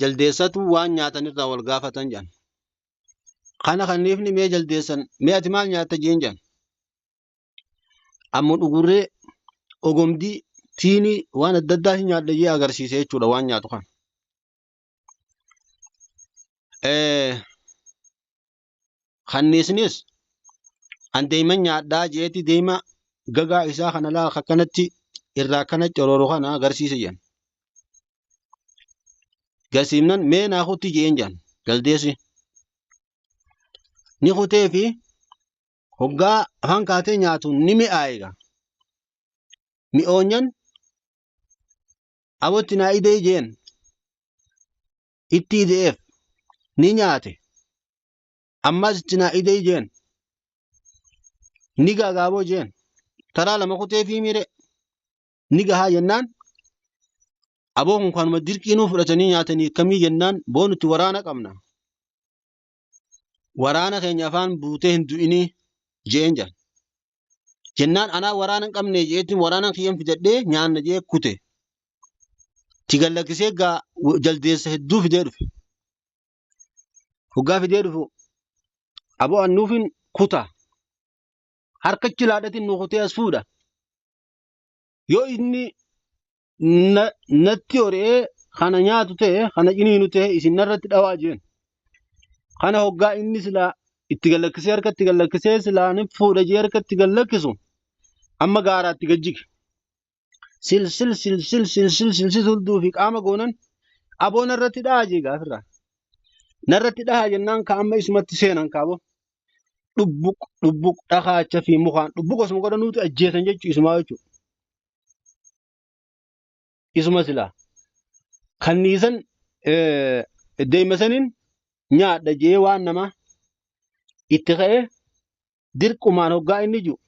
jaldeessatu waan nyaatan irraa wal gaafatan jedhan. Kana kanniifni mee jaldeessan mee ati maal nyaatta jeen jedhan. Ammoo dhugurree ogomdii tiinii waan adda addaa hin nyaadha jee agarsiise jechuudha waan nyaatu kan. Kanniisnis an deeman nyaadhaa je'eeti deema gagaa isaa kana laa akkanatti irraa akkana corooru kana agarsiise jedhan. Garsiifnan mee naa kutti je'een jedhan jaldeessi. Ni kutee fi hoggaa afaan kaatee nyaatu ni mi'aaye egaa. Mi'oonyan abootti naa idee jeen itti ide'eef ni nyaate ammas itti naa idee jeen ni gaagaaboo jeen taraa lama kutee fi miire ni gahaa jennaan aboo kun kanuma dirqiinuu fudhatanii nyaatanii akkamii jennaan boo nuti waraana qabna waraana keenya afaan buutee hin du'inii jeen jedhan. Jennaan anaa waraana hin qabne jeetti waraana kiyyan fidadhee nyaanna jee kute. Tigan lakkisee gaa jaldeessa hedduu fidee dhufe. Hoggaa fidee dhufu aboo annuufin kuta harka chilaadhatiin nu kutee as fuudha. yoo inni na, natti ori'ee kana nyaatu ta'e kana ciniinu ta'e isin narratti dhawaa jeen kana hoggaa inni silaa itti gallakkisee harka itti gallakkisee silaa ni fuudha jee harka itti gallakkisu amma gaaraatti gajjige silsil silsil silsil silsil hulduu fi qaama goonan aboo narratti dhahaa jee gaafirraa narratti dhahaa jennaan ka amma isumatti seenan kaaboo dhubbuq dhubbuq dhakaacha fi mukaan dhubbuq osuma godhan nuti ajjeesan jechuu isumaa jechuu isuma silaa kanniisan eh, deema saniin nyaadha jee waan namaa itti ka'ee dirqumaan hoggaa inni jiru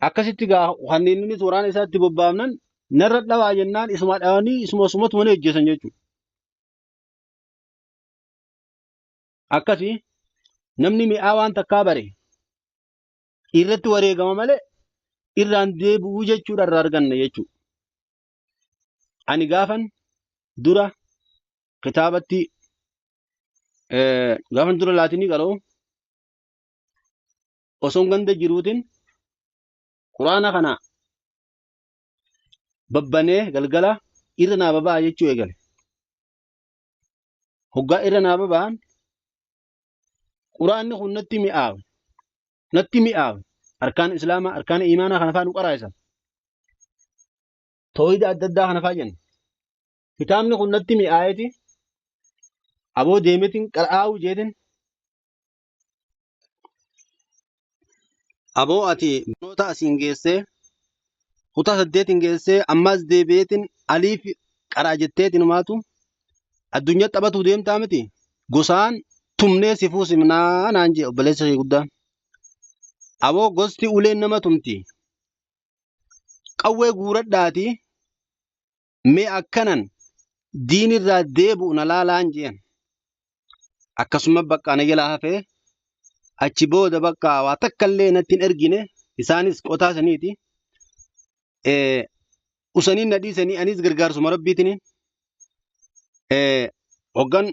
akkasitti gaa kanneen inni waraana isaatti bobbaafnan narra dhawaa jennaan isuma dhawanii isuma sumatu mana hojjetan jechuudha. akkasi namni mi'aa waan takkaa bare irratti wareegama malee irraan deebi'uu jechuudha irraa arganna jechuudha. Ani gaafan dura kitaabatti eh, gaafan dura laatinii qara'u osoo ganda jiruutiin quraana kana babbanee galgala irra naa baba'a jechuu eegale. hoggaa irra naa baba'an quraanni kun natti mi'aawe natti mi'aawe arkaan islaamaa arkaan imaanaa kana faa nu qaraa'isan toohida adda addaa kana faa jenna kitaabni kun natti mi'aayeti aboo deemetin qara'aawu jeetin Aboo ati barnoota asiin geessee kutaa saddeetiin geessee ammaas deebi'eetiin aliif qaraa jetteetiin maatu addunyaa taphatuu deemtaa miti gosaan tumnee si fuusimnaa naan jee obboleessa kee guddaan. Aboo gosti uleen nama tumti qawwee guuradhaatii mee akkanan diin irraa deebi'u na laalaan jeen akkasuma baqqaa na jalaa hafee achi booda baqqaa waa takka illee natti hin ergine isaanis qotaa saniiti eh, usanii na dhiisanii anis gargaarsuma rabbiitiin eh, hoggan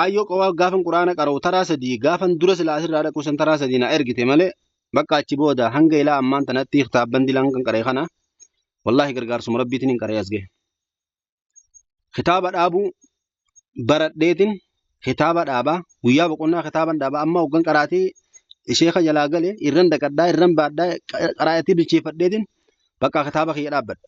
Aayyoo qowaa gaafan quraana qara'u taraa sadii gaafan dura silaa asirraa dhaquu san taraa sadii na ergite malee bakka achi booda hanga ilaa ammaan tanatti kitaabban dilaan kan qara'e kana wallaahi gargaarsuma rabbiitiin hin qara'e as gahe. Kitaaba dhaabuu baradheetiin kitaaba dhaabaa guyyaa boqonnaa kitaaban dhaabaa amma hoggan qaraatii sheeka jalaa gale irran daqadhaa irran baadhaa qaraatii bilcheeffadheetiin bakka kitaaba kiyya dhaabbadha.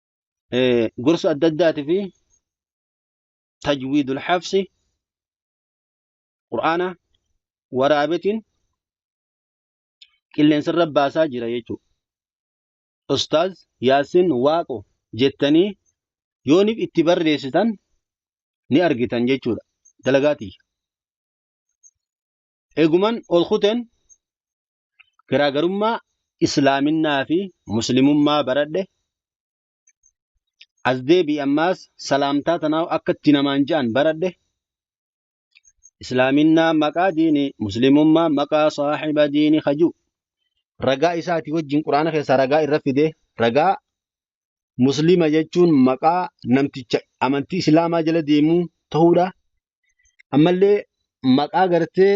eh, gorsa adda addaati fi tajwiidul hafsi qur'aana waraabetiin qilleensarra baasaa jira jechuudha. Ustaaz Yaasin Waaqo jettanii yooniif itti barreessitan ni argitan jechuudha. Dalagaati. Eeguman ol kuteen garaagarummaa islaaminaa fi muslimummaa baradhe as deebi'i ammaas salaamtaa tanaa akka itti namaan ja'an baradhe islaaminaa maqaa diini muslimummaa maqaa saaxiba diini kajuu ragaa isaati wajjin quraana keessaa ragaa irra fide ragaa muslima jechuun maqaa namticha amantii islaamaa jala deemuu ta'uudha ammallee maqaa gartee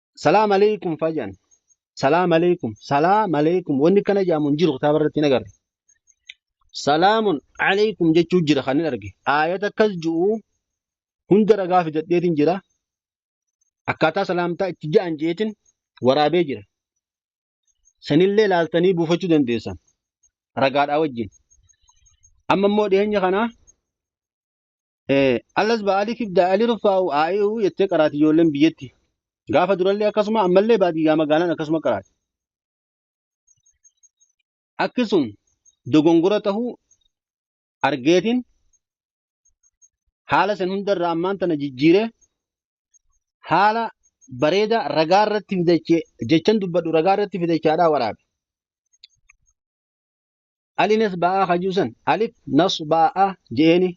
Salaam alaikum fayyaan. Salaam alaikum. Salaam alaikum. Wanni kana jedhamu hin jiru kitaaba irratti hin agarre. Salaamun alaikum jechuu jira kan hin arge. Aayata akkas jiru hunda ragaa fidadheetiin jira. Akkaataa salaamtaa itti ja'an jeetiin waraabee jira. Sanillee laaltanii buufachuu dandeessan. Ragaadhaa wajjin. Amma immoo dhiyeenya kanaa Eh, Allas ba'aaliif ibda ali rufaa'u aa'i'u jettee qaraati ijoolleen biyyatti. Gaafa durallee akkasuma ammallee baadiyyaa magaalaan akkasuma qaraati. Akki sun dogongora tahuu argeetiin haala san hundarraa ammaan tana jijjiiree haala bareedaa ragaa irratti fidachee jechan dubbadhu ragaa irratti fidachaadhaa waraabe. ali nasba'aa ka juusan alif nasba'aa jeeni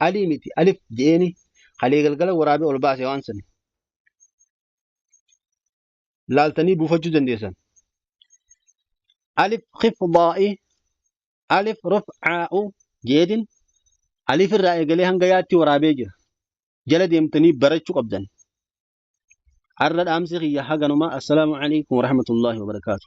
alii miti alif jeeni kalee galgala waraabee ol baase waan san laaltanii buufachuu dandeessan alif khifdaa'i alif ruf'aa'u jeetin alif irraa eegalee hanga yaatti waraabee jira jala deemtanii barachuu qabdan arra dhaamsi kiyya haganuma assalaamu alaikum warahmatullaahi wabarakaatu